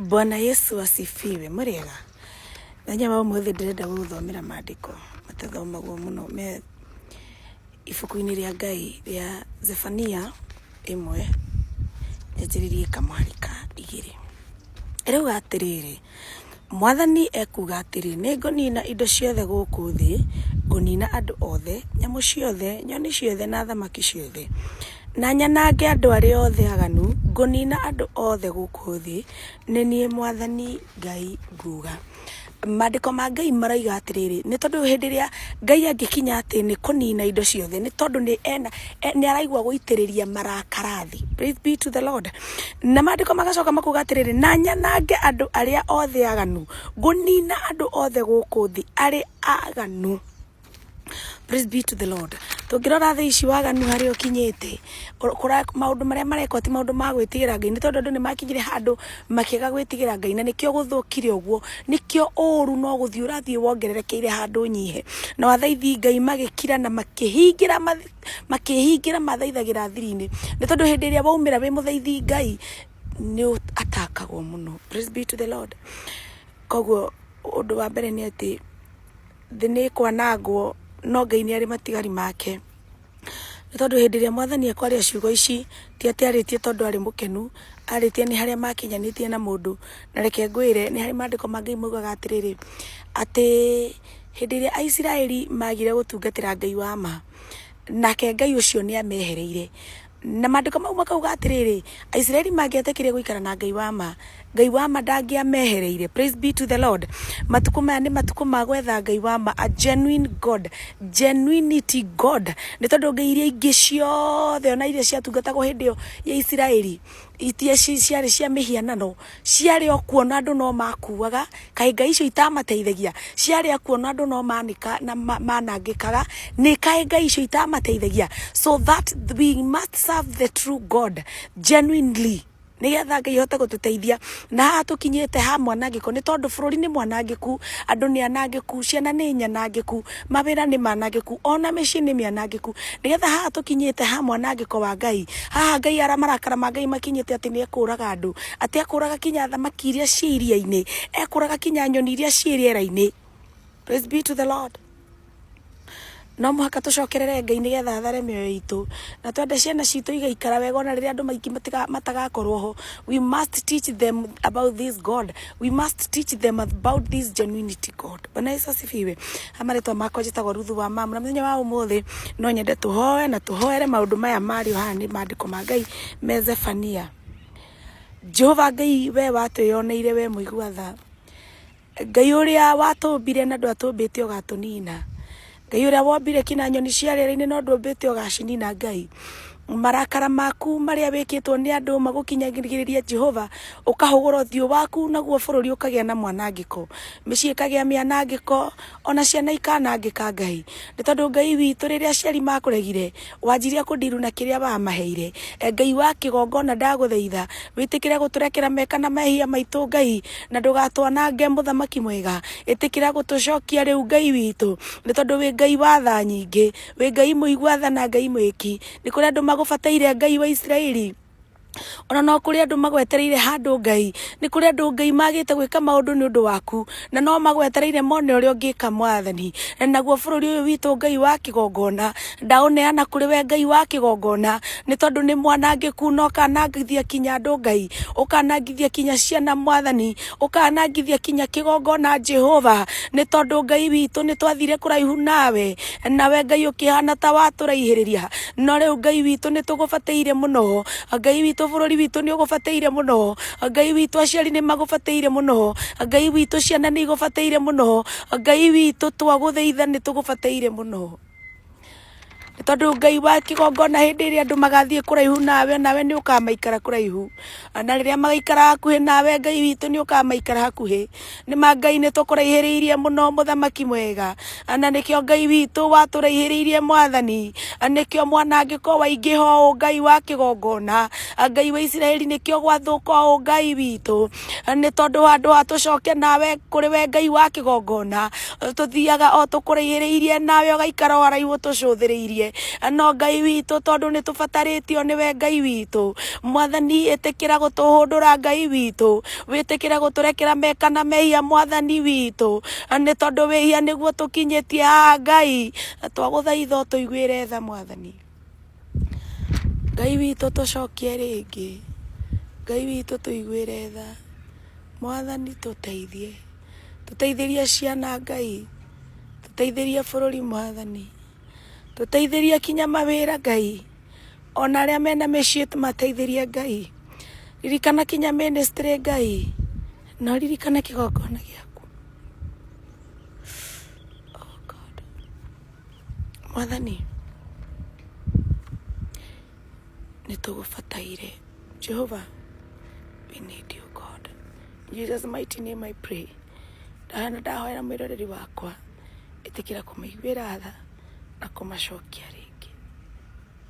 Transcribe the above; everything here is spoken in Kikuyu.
Bwana Yesu asifiwe murega nanya wa umuthi ndirenda guthomera maandiko matathomagwo muno me ibuku-inĩ rĩa Ngai rĩa Zefania ĩmwe nyanjĩrĩrie kamwari ka igĩrĩ ĩrauga atĩrĩrĩ Mwathani ekuuga atĩrĩ, Nĩngũniina indo ciothe gũkũ thĩ, ngũniina andũ othe, nyamũ ciothe, nyoni ciothe, na thamaki ciothe, na nyanange andũ arĩa othe aganu, ngũniina andũ othe gũkũ thĩ, nĩ niĩ mwathani Ngai nguuga. Maandĩko ma Ngai maroiga atĩrĩrĩ, nĩ tondũ hĩndĩ ĩrĩa Ngai angĩkinya atĩ nĩ kũniina indo ciothe, nĩ tondũ nĩ ena, nĩ araigua gũitĩrĩria marakara thĩ. Praise be to the Lord. Na maandĩko magacoka makuga atĩrĩrĩ, na nyanange andũ arĩa othe aganu, ngũnina andũ othe gũkũ thĩ arĩ aganu. Praise be to the Lord. Tũngĩrora thĩ ici waganu harĩa ũkinyĩte, ũ- kũra- maũndũ marĩa marekwo ti maũndũ ma gwĩtigĩra Ngai, nĩ tondũ andũ nĩ makinyire handũ makĩaga gwĩtigĩra Ngai, na nĩkĩo gũthũkire ũguo, nĩkĩo ũũru no gũthiĩ ũrathiĩ wongererekeire handũ ũnyihe, na wathaithi Ngai magĩkira na makĩhingĩra mathi- makĩhingĩra mathaithagĩra thiri-inĩ nĩ tondũ hĩndĩ ĩrĩa waumĩra wĩ mũthaithi ngai nĩ atakagwo mũno praise be to the lord koguo ũndũ wa mbere nĩ atĩ thĩ nĩ kwanangwo no ngai nĩ arĩ matigari make nĩ tondũ hĩndĩ ĩrĩa mwathani ekwaria ciugo ici ti atĩ arĩtie tondũ arĩ mũkenu arĩtie nĩ harĩa makinyanĩtie na mũndũ na reke ngwĩre nĩ harĩ maandĩko ma ngai maugaga atĩrĩrĩ atĩ Hĩndĩ ĩrĩa Aisiraeli maagire gũtungatĩra Ngai wa ma, nake Ngai ũcio nĩ amehereire. Na maandĩko mau makauga atĩrĩrĩ, Aisiraeli mangĩetĩkĩrire gũikara na Ngai wa ma, Ngai wa ma ndangĩamehereire. Praise be to the Lord. Matukũ maya nĩ matukũ ma gwetha Ngai wa ma, a genuine God, genuinity God. Nĩ tondũ ngai iria ingĩ ciothe ona iria ciatungatagwo hĩndĩ ĩyo ya Isiraeli, iria ciarĩ cia mĩhianano, ciarĩ o kuona andũ no makuaga kaĩ ngai icio itamateithagia ciarĩ o kuona andũ no manĩka na ma- manangĩkaga nĩ kaĩ ngai icio itamateithagia so that we must serve the true god genuinely nĩgetha ngai ahote gũtũteithia na haha tũkinyĩte ha mwanangĩko nĩ tondũ bũrũri nĩ mwanangĩku andũ nĩ anangĩku ciana nĩ nyanangĩku mawĩra nĩ manangĩku, ona mĩciĩ nĩ mĩanangĩku, nĩgetha haha tũkinyĩte ha mwanangĩko wa Ngai, haha Ngai ara marakara ma Ngai makinyĩte atĩ nĩ ekũraga andũ, atĩ ekũraga kinya thamaki iria ciĩ iria-inĩ, ekũraga kinya nyoni iria ciĩ rĩera-inĩ. Praise be to the Lord. No mũhaka tũcokerere Ngai nĩgetha athare mĩoyo itũ, na twende ciana citũ igaikara wega ona rĩrĩa andũ maingĩ matiga- matagakorwo ho, we must teach them about this God. We must teach them about this genuinity God. Bwana Yesu asifiwe. Amaretwa makwa njĩtagwo Ruthu wa Mamu. Na mũthenya wa ũmũthĩ no nyende tũhoe na tũhoere maũndũ maya marĩ haha nĩ maandĩko ma Ngai me Zefania. Jehova Ngai we watwĩyoneire we mũigua tha. Ngai ũrĩa watũmbire na ndwatũmbĩte ũgatũnina. Ngai ũrĩa wombire ki na nyoni cia rĩera-inĩ no ndũmbĩte ũgacinina Ngai. Marakara maku marĩa wĩkĩtwo nĩ andũ magũkinyagĩrĩria Jehova, ũkahũgũra ũthiũ waku naguo bũrũri ũkagĩa na mwanangĩko. Mĩciĩ ĩkagĩa mĩanangĩko, ona ciana ikanangĩka Ngai. Nĩ tondũ Ngai witũ rĩrĩa aciari makũregire, Wanjirie kũndiru na kĩrĩa wamaheire. E Ngai wa kĩgongona ndagũthaitha, wĩtĩkĩre gũtũrekera meka na mehia maitũ Ngai, na ndũgatwanange mũthamaki mwega. Ĩtĩkĩra gũtũcokia rĩu Ngai witũ, nĩ tondũ wĩ Ngai wa tha nyingĩ, wĩ Ngai mũigua tha na Ngai mwĩki. Nĩ kũrĩ andũ magũbataire Ngai wa Isiraeli? ona no kũrĩ andũ magwetereire handũ ngai nĩ kũrĩ andũ ngai magĩte gwĩka maũndũ nĩ ũndũ waku na no magwetereire mone ũrĩa ũngĩka mwathani na naguo bũrũri ũyũ witũ ngai wa kĩgongona ndaũneana kũrĩ we ngai wa kĩgongona nĩ tondũ nĩ mwanangĩku na ũkanangithia kinya andũ ngai ũkanangithia kinya ciana mwathani ũkanangithia kinya kĩgongona Jehova nĩ tondũ Ngai witũ nĩ twathire kũraihu nawe nawe Ngai ũkĩhana ta watũraihĩrĩria no rĩu Ngai witũ nĩ tũgũbatĩire mũno Ngai witũ bũrũri witũ nĩ ũgũbatĩire mũno Ngai witũ aciari nĩ magũbatĩire mũno Ngai witũ ciana nĩ igũbatĩire mũno Ngai witũ twagũthaitha nĩ tũgũbatĩire mũno Nĩ tondũ Ngai wa kĩgongona hĩndĩ ĩrĩa andũ magathiĩ kũraihu nawe, nawe nĩ ũkamaikara kũraihu. Na rĩrĩa magaikara hakuhĩ nawe Ngai witũ nĩ ũkamaikara hakuhĩ. Nĩ ma Ngai nĩ tũkũraihĩrĩirie mũno mũthamaki mwega. Na nĩkĩo Ngai witũ watũraihĩrĩirie mwathani. Na nĩkĩo mwanangĩko waingĩha ũũ Ngai wa kĩgongona. Ngai wa Isiraeli nĩkĩo gwathũka ũũ Ngai witũ. nĩ tondũ wa andũ atũcoke nawe kũrĩ we ngai wa kĩgongona tũthiaga o tũkũrĩhĩrĩirie nawe ũgaikara o haraihu ũtũcũthĩrĩirie no ngai witũ tondũ nĩ tũbatarĩtio nĩwe ngai witũ mwathani ĩtĩkĩra gũtũhũndũra ngai witũ wĩtĩkĩre gũtũrekera meka na mehia mwathani witũ nĩ tondũ wĩhia nĩguo tũkinyĩtie haha ngai twagũthaitha ũtũiguĩre tha mwathani Ngai witũ tũcokie rĩngĩ, Ngai witũ tũiguĩre tha, mwathani tũteithie, tũteithĩrie ciana Ngai, tũteithĩrie bũrũri mwathani, tũteithĩrie kinya mawĩra Ngai, ona arĩa mena mĩciĩ tũmateithĩrie Ngai, ririkana kinya ministry Ngai, na ũririkane kĩgongona gĩaku. Mwathani, nĩ tũgũbataire. Jehovah, we need you God. In Jesus mighty name I pray. Ndahana ndahoera mwĩroreri wakwa, ĩtĩkĩra kũmĩiguĩra tha na kũmacokia rĩngĩ.